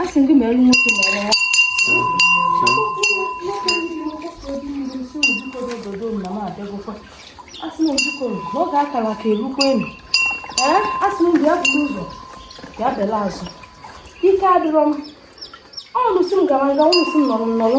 a sị m gị mere nwoke mma ọrụ a sị na ojikọ n'oge akara ka erukwa enu ee a sị na bịa buru ụzọ bịa bela azụ ike adịrọ m ọnụ sị m gara nga ọnụ sị m nọrọ m nọrọ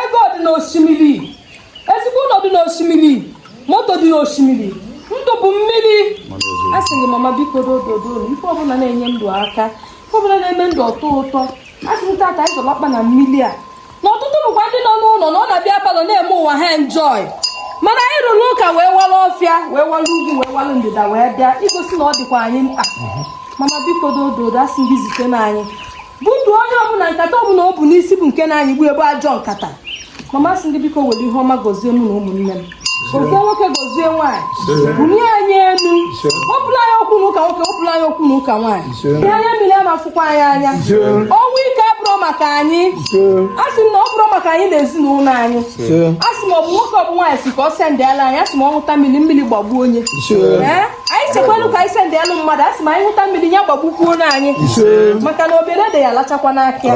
ego dị n'osimiri ezigbo ụlọ dị n'osimiri moto dị n'osimiri ndụ bụ mmiri a sị gị mama biko dododo ife ọbụla na-enye ndụ aka ife ọbụla na-eme ndụ ọ tọọ ụtọ a sị m taa ka anyị zọla ọkpa na mmiri a na ọtụtụ bụkwa ndị nọ n'ụlọ na ọ na-abịa palọ na-eme onwe ha enjoy mana anyị rụrụ ụka wee wara ọfịa wee wara ugwu wee wara ndịda wee bịa igosi na ọ dịkwa anyị mkpa mama biko dododo a sị gị zite na anyị butuo onye ọbụla nkata ọbụla o bu n'isi bụ nke na-anyịgbu ya bụ ajọ nkata mama a sị m gị biko were ihe ọma gozie mụ na ụmụnne m gozie nwoke gozie nwaanyị bulie anyị elu wepụla anyị okwu na ụka nwoke wepụla anyị okwu na ụka nwaanyị ihe anya mmiri ama fụkwa anyị anya ọnwụ ike abụrụ maka anyị a sị m na ọ bụrụ maka anyị na ezinụlọ anyị a sị m ọ bụ nwoke ọ bụ nwaanyị sị ka ọ sendịala anyị a sị m ọ ṅụta mmiri mmiri gbagbuo onye ee anyị chekwanụ ka anyị sendịalụ mmadụ a sị m anyị ṅụta mmiri ya gbagbukwuonụ anyị maka na obere dị ya lachakwa n'aka ya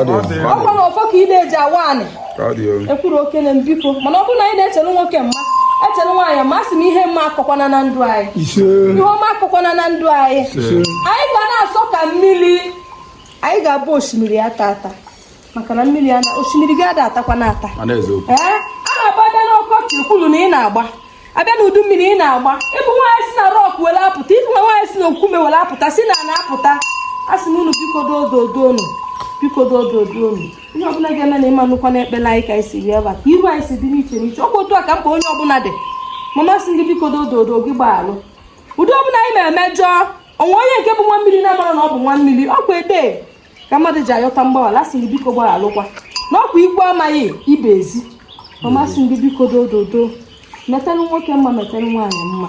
ọkwa na ọfọ ka ide ji awa anị ekwuru okene m biko mana ọ bụrụ na anyị na-echere nwoke mma echere nwaanyị mma a sị m ihe mma akọkwana na ndụ anyị ihe ọma akọkwana na ndụ anyị anyị ga na-asọ ka mmiri anyị ga-abụ osimiri atata maka na mmiri ana osimiri gị ada atakwanụ ata a na-agba abịa n'ọkọchị ekwulu na ị na-agba abịa na udu mmiri ị na-agba ị bụ nwaanyị si na rọk were apụta ị bụ nwa nwaanyị si na okwume were apụta si na na-apụta a sị na unu biko dododoonu biko dododoonu ihe ọbụla ga-eme na ịma nnukwu na ekpela anyị ka anyị si bịa ebe a ka iru anyị si dị n'iche n'iche ọ bụ otu a ka mkpa onye ọbụla dị mama a sị m gị biko dododo gị gbaghalụ ụdị ọbụla anyị na-emejọ onwe onye nke bụ nwa mmiri na-amara na ọ bụ nwa mmiri ọkwa ede ka mmadụ ji ayọta mgbaghara a sị m gị biko gbaghalụkwa na ọkwa ikwu amaghị ibe ezi ya a sị m gị biko dododo metanụ nwoke mma metanụ nwaanyị mma